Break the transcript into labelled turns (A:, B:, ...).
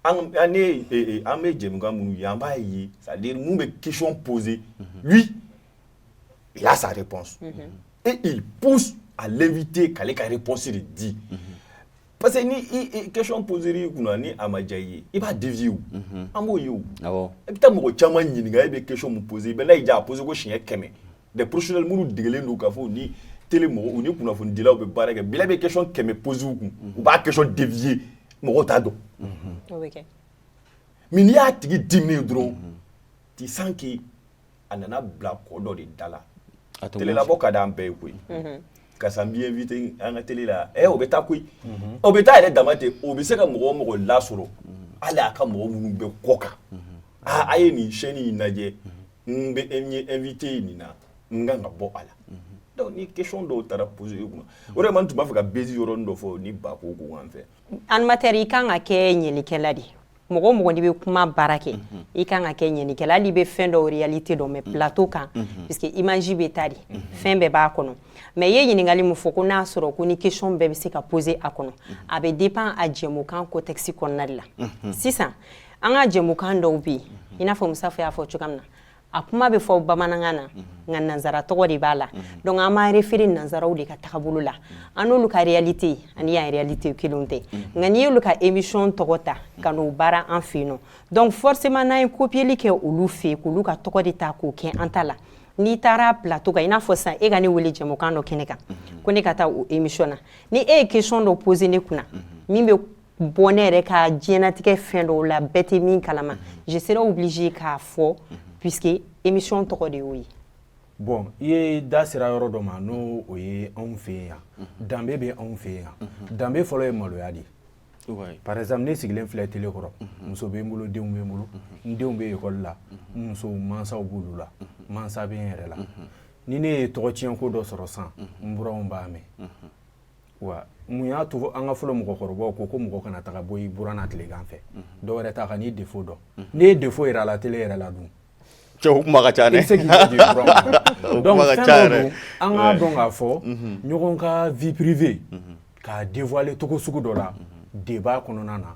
A: an bɛ jɛkan minnu ye an b'a ye sa minnu bɛ kicon pozse la sare pan e p a te kale kare pɔsi de di parce que ni ke pɔozri kunna ni a ma diya i ye i b'a diz an b'o ye i bɛ taa mɔgɔ caman ɲininka e bɛ ke pɔosi i bɛ n' y'i diya a pɔosi ko siɲɛ kɛmɛ des professionnels minnu degelen don k'a fɔ ni tele mɔgɔw ni kunnafonidilaw bɛ baara kɛ bila bɛ question kɛmɛ poser u kun u b'a question dévier mɔgɔw t'a dɔn o bɛ kɛ mais n'i y'a tigi diminen ye dɔrɔn tu sens que a nana bila kɔ dɔ de da la A tɛ tele la bɔ ka d'an bɛɛ ye koyi karisa n b'i invité an ka tele la ɛ o bɛ taa koyi o bɛ taa yɛrɛ dama ten o bɛ se ka mɔgɔ o mɔgɔ lasɔrɔ hali a ka mɔgɔ minnu bɛ kɔ kan aa a ye nin chaîne in lajɛ n bɛ n ye invité ye nin na n kan ka bɔ a la donc ni question dɔw taara poser i kunna o de kama n tun b'a fɛ ka bezi yɔrɔnin dɔ fɔ ni ba ko ko en fait animateur i kan
B: ka kɛ ɲɛlikɛla de mɔgɔ o mɔgɔ n'i bɛ kuma baara kɛ i kan ka kɛ ɲɛnikɛla hali i bɛ fɛn dɔw réalité dɔn mais plateau kan parce que image bɛ ta de fɛn bɛɛ b'a kɔnɔ mais i ye ɲininkali min fɔ ko n'a sɔrɔ ko ni question bɛɛ bɛ se ka poser a kɔnɔ a bɛ dépend a jɛmukan contexte kɔnɔna de la sisan an ka jɛmukan dɔw bɛ yen i n'a fɔ musafa y'a fɔ cogoya min na a kuma bɛ fɔ bamanankan na nka nansara tɔgɔ de b'a la donc an b'a référer nansaraw de ka tagabolo la an n'olu ka réalité ani an réalité kelen tɛ nka n'i y'olu ka émission tɔgɔ ta ka n'o baara an fɛ yen nɔ donc forcément n'an ye copieli kɛ olu fɛ yen k'olu ka tɔgɔ de ta k'o kɛ an ta la n'i taara plateau kan i n'a fɔ san e ka ne weele jɛmukan dɔ kɛnɛ kan ko ne ka taa o émission na ni e ye question dɔ poser ne kunna min bɛ bɔ ne yɛrɛ ka diɲɛnatigɛ fɛn dɔw la bɛɛ tɛ min kalama je serai obligé k'a fɔ puisque émission tɔgɔ de y'o ye bon i ye
C: da sera yɔrɔ dɔ ma n'o o ye anw fɛ yan danbe bɛ anw fɛ yan danbe fɔlɔ ye maloya de ye par exemple ne sigilen filɛ tele kɔrɔ muso bɛ n bolo denw bɛ n bolo n denw bɛ ekɔli la n musow mansaw b'olu la mansa bɛ n yɛrɛ la ni ne ye tɔgɔtiɲɛ ko dɔ sɔrɔ san n buranw b'a mɛn wa mun y'a to an ka fɔlɔ mɔgɔkɔrɔbaw ko ko mɔgɔ kana taga bɔ i buranna tilegan fɛ dɔ wɛrɛ t'a kan'i défaut dɔn n'i ye défaut yira a la tele yɛrɛ la dun cɛw kuma ka ca
A: dɛ se
C: k'i donc fɛn dɔ don an k'a dɔn k'a fɔ ɲɔgɔn ka vie privée k'a dévoiler cogo sugu dɔ la débat kɔnɔna na